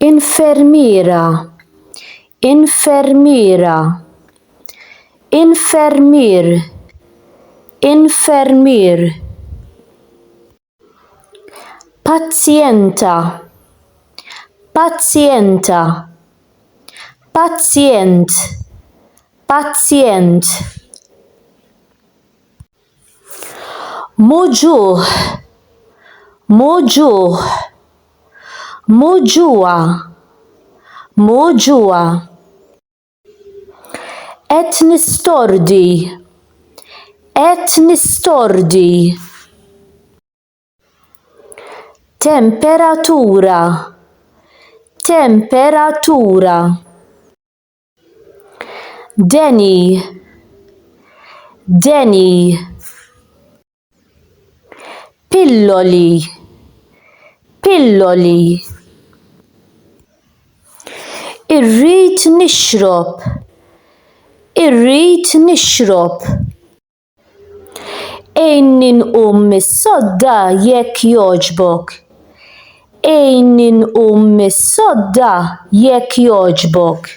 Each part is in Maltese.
Infermiera Infermiera Infermier Infermier Pazjenta Pazjenta Pazjent Pazjent Muġugħ, muġugħ. Muġugħa, muġugħa. Qed nistordi, qed nistordi. Temperatura, temperatura. Deni Deni Pilloli Pilloli Irrid nixrob Irrid nixrob Għinni nqum mis-sodda jekk jogħġbok. Għinni nqum mis-sodda jekk jogħġbok.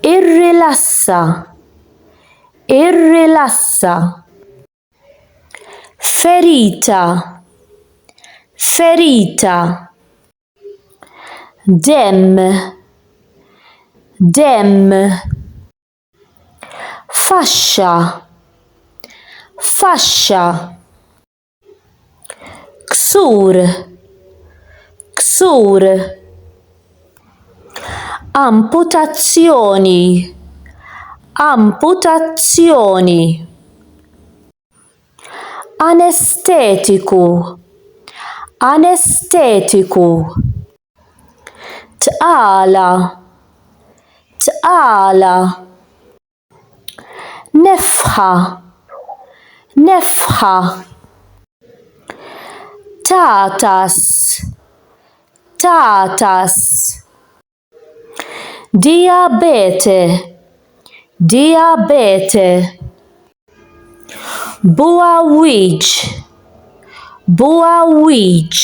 Irrilassa. Irrilassa. Ferita. Ferita. Demm. Demm. faxxa faxxa ksur ksur amputazzjoni amputazzjoni anestetiku anestetiku tqala tqala nefħa nefħa tagħtas tagħtas dijabete dijabete bugħawwieġ bugħawwieġ